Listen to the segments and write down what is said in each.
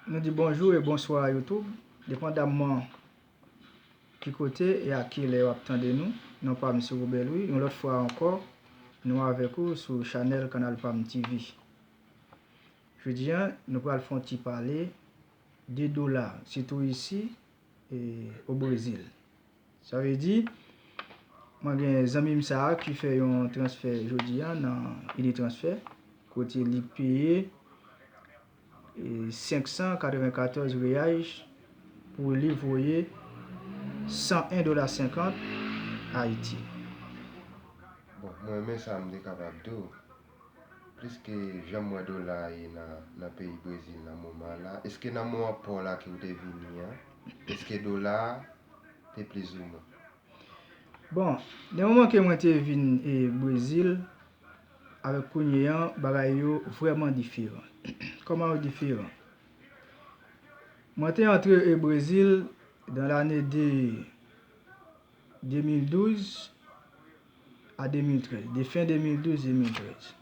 Nou di bonjou e bonswa a YouTube, depandamman ki kote e ak kilè wap tande nou, non pam se Robert Louis, yon lòt fwa ankò nou avèk ou sou chanèl kanal pam TV. Jodi an nou pral fon ti pale de dola, sitou isi. o Brezil. Sa vle di, mwen gen zanmi m sa a ki fè yon transfè jodi a nan Unitransfer, kote li peye 594 reais pou li voye 101 dola 50 Ayiti. Bon, mwen renmen sa m te kapab tou. Pliske janm wè dola a ye nan nan peyi brezil nan moman la eske nan mou an paw la ke ou te vini an eske dola a te plis ou mwen. Bon nan moman ke mwen te vin e brezil avèk kounye an bagay yo vrèman diferan kòman yo diferan mwen te antre e brezil dan lane de 2012. a 2013, de fen 2012, 2013.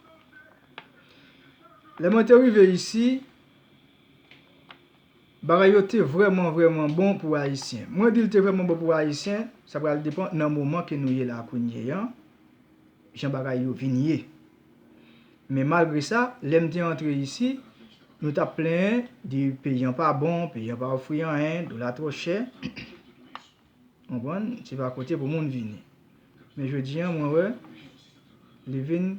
Lè mwen te rive isi, bagay yo te vreman vreman bon pou Ayisyen. Mwen di l te vreman bon pou Ayisyen, sa pral depan nan moman ke nou ye la kounye an, jan bagay yo vin ye. Men malgre sa, lè m te antre isi, nou t ap plenyen di peyi an pa bon, peyi an pa ofri anyen, dola twò chè. Konprann? Se pa kote pou moun vini. Men jodi an mwen wè li vin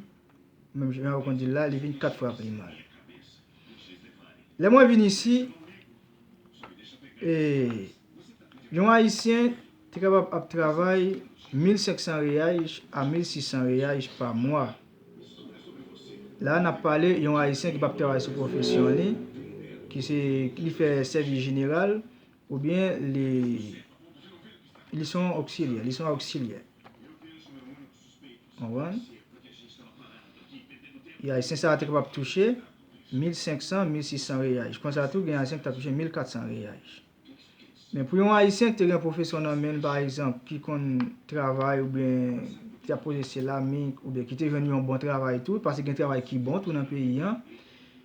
menm jan yo konn di l la, li vin 4 fwa pi mal. Lè mwen vin isi, e yon ayisyen te kapab ap travay 1500 riyais a 1600 riyais pa mwa. La a n ap pale yon ayisyen ki p ap travay sou pwofesyon li, ki se li fè sèvis jeneral. Oubyen li li son oksilyè, li son oksilyè. Konprann? E ayisyen sa a te kapab touche 1500, 1600 reyaj. Konsa tou gen ayisyen ki t ap touche 1400 reyaj. Men pou yon ayisyen ki te gen pwofesyon nan men l pa egzanp, ki konn travay oubyen ki ap poze seramik oubyen ki te jwenn yon bon travay tou, paske gen travay ki bon tou nan peyi an,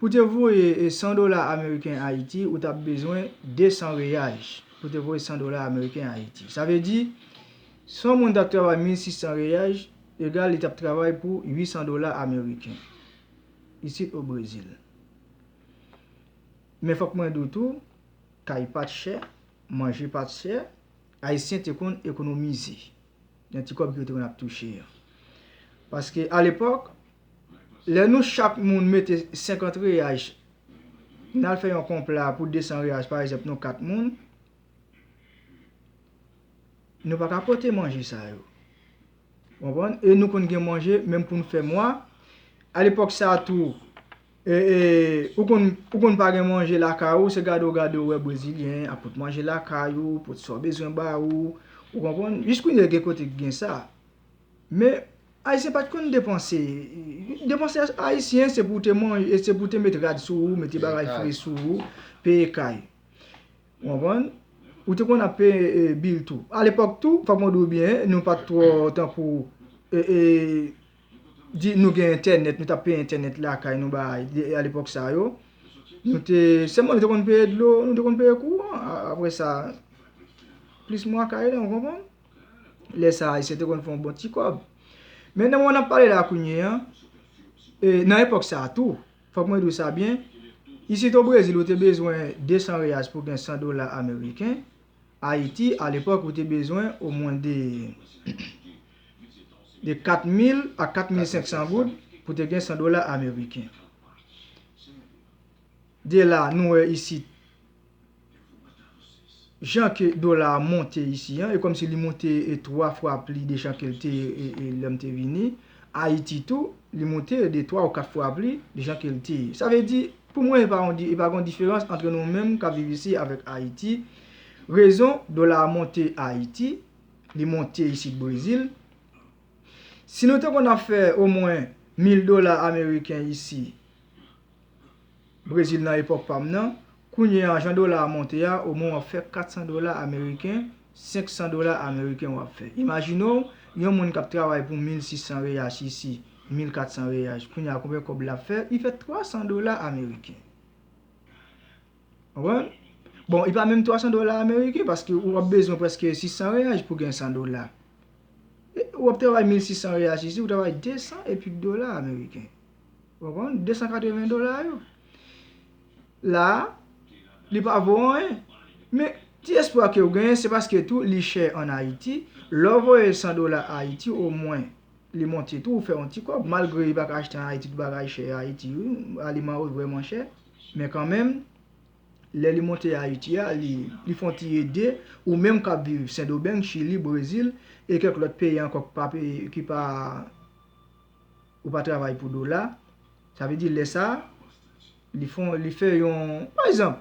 Pou te voye 100 dola ameriken Ayiti, ou t ap bezwen 200 reyaj pou te voye 100 dola ameriken Ayiti. Sa vle di, si yon moun t ap travay 1600 reyaj, egal li t ap travay pou 800 dola ameriken, isit o Brezil. Men fòk mwen di w tou, kay pa t chè, manje pa t chè, Ayisyen te konn ekonomize nan ti kòb yo te konn ap touche an. Paske alepòk, Lè nou chak moun mete 50 reyaj, n al fè yon konpla pou 200 reyaj pa egzanp nou 4 moun, nou pa ka pote manje sa yo. Ou konprann? E nou konn gen manje menm pou n fè mwa. A lepòk sa a tou, ou konn ou konn pa gen manje lakay ou, se gade w gade w wè brezilyen ap pot manje lakay ou, pot sa w bezwen ba ou. Ou konprann? Jis kounye gen kote ki gen sa. Men. Ayisyen pat konn depanse. Depanse ayisyen se pou te man, e se pou te met rad sou ou, mete bagay fre sou ou, peye kay. Ou konprann? Ou te konn ap peye bil tou. A lepòk tou, fòk mwen di ou byen, nou pat twò tankou, e, e, di nou gen entènèt, nou t ap peye entènèt lakay nou bay, a lepòk sa yo. Nou te, sèlman nou te konn peye dlo, nou te konn peye kouran. Apre sa, plis mwa kay la, ou konprann? Lè sa ayisyen te konn fè yon bon ti kòb. Men nan moman n ap pale la kounye an, e nan epòk sa a tou, fòk mwen di w sa byen, isit o Brezil ou te bezwen 200 reyals pou gen 100 dola ameriken, Ayiti a lepòk ou te bezwen omwen de 4000 a 4500 goud pou te gen 100 dola ameriken. De la nou wè isit. Jan ke dola a monte isi an, e kòm si li monte 3 fwa pli de jan ke l te lè m te vini. Ayiti tou, li monte de 3 ou 4 fwa pli de jan ke l te. Sa vle di, pou mwen e pa yon, e pa gen yon diferans antre nou menm k ap viv isi avèk Ayiti. Rezon dola a monte Ayiti, li monte isit Brezil. Si nou te konn ap fè omwen mil dola ameriken isi, Brezil nan epòk pa m nan. Kounye a jan dola a monte a, o mwen w ap fè 400 dola ameriken, 500 dola ameriken w ap fè. Imajine w, yon moun k ap travay pou 1600 reyach isi, 1400 reyach, kounye a konbyen kòb l ap fè? Li fè 300 dola ameriken. Konprann? Bon, li pa menm 300 dola ameriken paske ou ap bezwen prèske 600 reyach pou gen 100 dola. Ou ap travay 1600 reyach isi, ou travay 200 e pik dola ameriken. Ou konprann? 280 dola yo. La, li pa vo anyen. Men, ti espwa ke ou genyen, se paske tou li chè an Ayiti. Lè ou voye 100 dola Ayiti, o mwen, li monte tou, ou fè yon ti kòb. Malgre li pa ka achte an Ayiti, tout bagay chè Ayiti. Aliman yo vreman chè. Men kanmenm, lè li monte Ayiti a, li fon ti ede, ou menm kap viv Sendomeng, Chili, Brezil, e kèk lòt peyi ankò ki pa... ou pa travay pou dola, sa vle di lè sa, li fon, li fè yon, pa egzanp,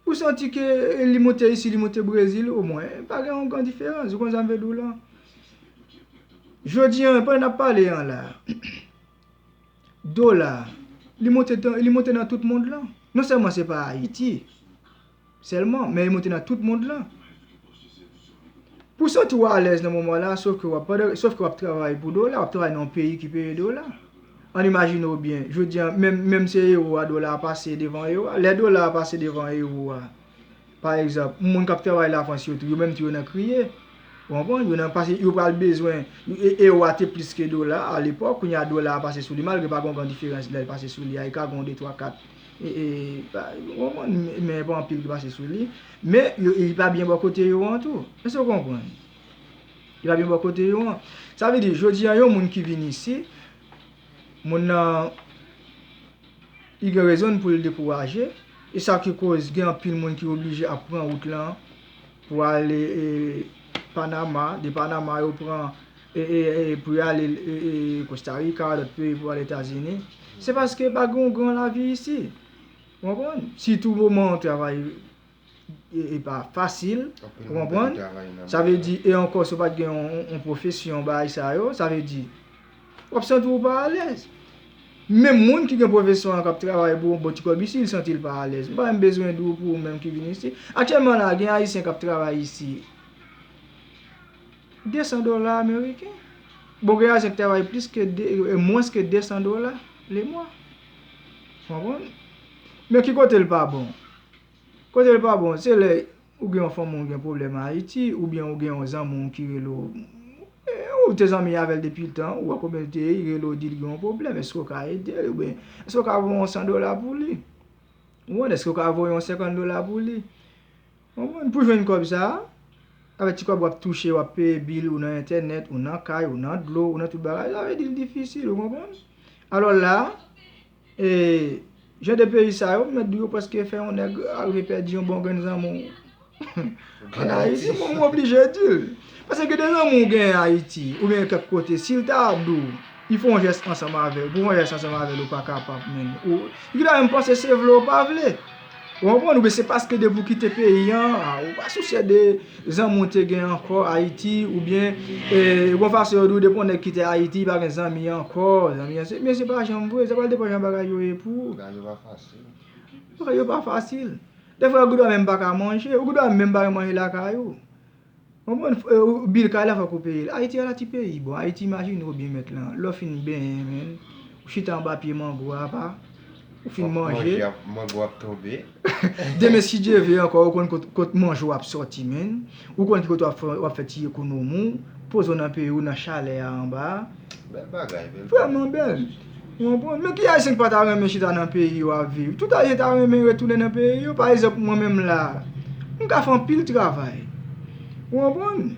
ou santi ke li monte isi, li monte Brezil, o mwen, pa gen yon gran diferans, ou konprann sa m vle di w la? Jodi an, pandan n ap pale an la, dola, li monte nan tout mond lan, non sèlman se pa Ayiti, Sèlman, men yo monte nan tout mond lan. Pou w santi w alèz nan moman la, sof ke w ap, sof ke w ap travay pou dola, w ap travay nan yon peyi ki peye dola. Ann imajine w byen, jodi an, menm, menm se ewo a dola a pase devan ewo a. Lè dola a pase devan ewo a, pa egzanp, moun k ap travay Lafrans yo tou, yo menm tou yo nan kriye. Ou konprann? Yo nan, paske yo pral bezwen, e, ewo a te plis ke dola a alepòk, kounye a dola a pase sou li, malgre pa gen yon gran diferans lè l pase sou li a, e ka gen yon de twa kat Men epa anpil ki pase sou li Men li pa byen bò kote yo an tou Èske ou konprann? Li pa byen bò kote yo an Sa vle di jodi an yon moun ki vin isi Moun nan Li gen rezon l pou l dekouraje E sa ki koz gen anpil moun ki oblije ap pran wout lan Pou ale Panama De Panama yo pran pou yo ale Costa Rica, lòt peyi pou yo ale Etazini, se paske pa gen yon gran lavi isi. Ou konprann? Sitou moman an travay e pa fasil, ou konprann? Sa vle di, e ankò si w pa t gen yon pwofesyon bay sa yo, sa vle di, w ap santi w pa alèz. Menm moun ki gen pwofesyon an k ap travay pou yon bon ti kòb isi, li santi l pa alèz. M pa menm bezwen di w pou ou menm ki vin isi. Aktyèlman la, gen Ayisyen k ap travay isi. 200 dola ameriken. Bon gen ajan ki travay plis ke, mwens ke 200 dola le mwa. Ou konprann? Men ki kote l pa bon? Kote l pa bon, se lè ou gen yon fanmi w gen pwoblèm an Ayiti, oubyen ou gen yon zanmi w ki rele w, ou te zanmi avè l depi tan, ou wè konbyen l te ye, li rele w di l gen yon pwoblèm, èske w ka ede l? Oubyen, èske w ka voye yon 100 dola pou li? Ou konprann? Èske w ka voye yon 50 dola pou li? Bon moun pou jwenn kòb sa a, avèk ti kòb wap touche wap peye bil ou nan entènèt ou nan kay ou nan dlo ou nan tout bagay sa vle di l difisil ou konprann alò la e jan de peyi sa yo m mèt di w yo prèske fè yon nèg arive pèdi yon bon grenn zanmi w an Ayiti bon m oblije di l pase gen de zanmi w gen Ayiti oubyen kèk kote si l ta di w li fè yon jès ansanm avè w pou w fè yon jès ansanm avè l ou pa kapab menm ou li ta menm panse se vle ou pa vle. Ou konprann oubyen se paske depi ou kite peyi an ou pa sousye de zanmi ou te gen ankò Ayiti oubyen gon fason yo di ou depi yon nèg kite Ayiti li pa gen zanmi ankò zanmi an se men se pa janm vre sa pral depan jan bagay yo ye pou ou. Bagay yo pa fasil. Bagay yo pa fasil. Dèfwa ou gendwa menm pa ka manje ou gendwa menm pa gen manje lakay ou. Konprann freo bil kay la fok ou peyel ayiti ala ti peyi bon ayiti imajine ou byen mèt lan lèw fin benyen menn ou chita anba pye mango a apa ou fin manje mango ap tonbe demen si Dye ve ankò ou konn kot manjew ap sòti menn ou konn ki kote wap fè ti ekonomiw pozew nan peyiw nan chalè a anba a bèl bagay bèl bagay vrèman bèl. Ou konprann? Men ki Ayisyen ki pa ta renmen chita nan peyi yo ap viv? Tout Ayisyen ta renmen retounen nan peyi yo. Pa egzanp, mwen menm la a, m ka fè anpil travay. Ou konprann?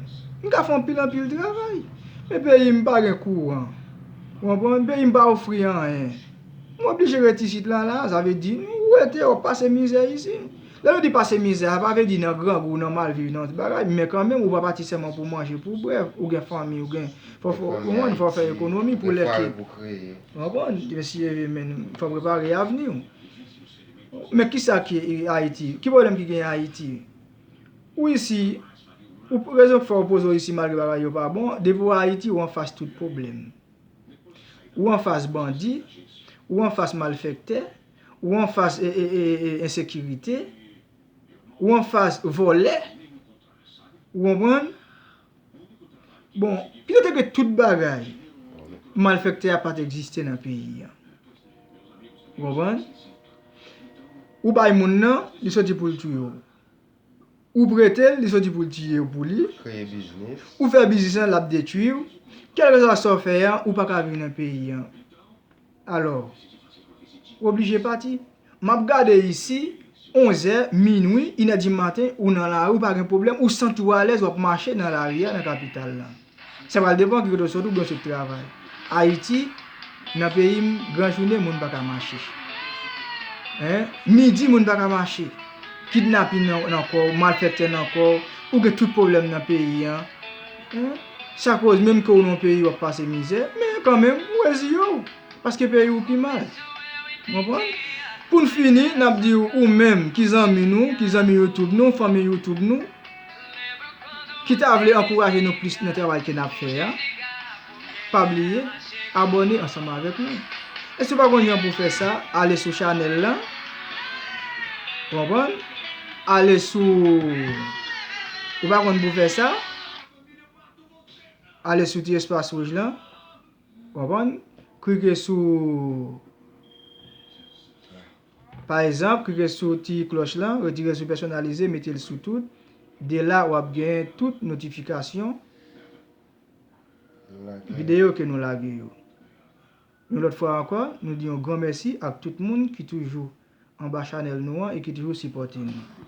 M ka fè anpil anpil travay. Men peyi m pa gen kouran. Ou konprann? Peyi m pa ofri anyen. M oblije ret isit la la a. Sa vle di, ou rete, ou ap pase mizè isit. Lè nou di pase mizè, sa pa vle di nan grangou, nan mal viv, nan tout bagay, men kanmenm ou pa pati sèlman pou manje, pou bwè, ou gen fanmi, ou gen, fò ou konprann, fò ou fè ekonomi pou lè ke, ou konprann, mesye men, fò ou prepare avni ou. Men kisa ki Ayiti? Ki pwoblèm ki genyen Ayiti? Ou isi, ou rezon ki fè ou poze ou isi malgre bagay yo pa bon, depi ou Ayiti ou anfas tout pwoblèm. Ou anfas bandi, ou anfas malfèktè, ou anfas ensekirite, ou anfas vòlè, ou konprann? Bon, pito te ke tout bagay, malfèktè a pa te egziste nan peyi a. Ou konprann? Ou bay moun nan, li soti pou l touye w. Ou prete l, li soti pou l tiye w pou li. Ou fè biznis lan, l ap detui w. Kèlkeswa sa w fè a, ou pa ka viv nan peyi a. Alò, ou oblije pati. M ap gade isi, onzè, minui, inèdimaten, ou nan lari, ou pa gen pwoblèm, ou santi w alèz, w ap mache nan lari a nan kapital la. Sa pral depan ki kote w sot ou byen w sot travay. Ayiti, nan peyi m, gran jounen moun pa ka mache. Hein? Midi moun pa ka mache. Kidnapin nan kò w, malfèktè nan kò w, ou gen tout pwoblèm nan peyi an. Hein? Sa koz menm ke w nan yon peyi w ap pase mizè, men kan menm ou rezi yo w, paske peyi w pi mal. Ou konprann? Pou n fini, n ap di w ou menm ki zanmi nou, ki zanmi youtube nou, fanmi youtube nou, ki ta vle ankouraje nou plis nan travay ke nap fè a pa bliye abòne ansanm avèk nou e si ou pa konn jan pou fè sa ale sou chanèl lan ou konprann ale sou ou pa konn pou fè sa ale sou ti espas wouj lan ou konprann klike sou Pa egzanp, klike sou ti klòch lan, retire sou pèsonalize, mete l sou tout. De la wap gen tout notifikasyon videyo ke nou lage yo. Yon lòt fwa ankò, nou di yon gran mèsi ak tout moun ki toujou anba chanèl nou an e ki toujou sipòte nou.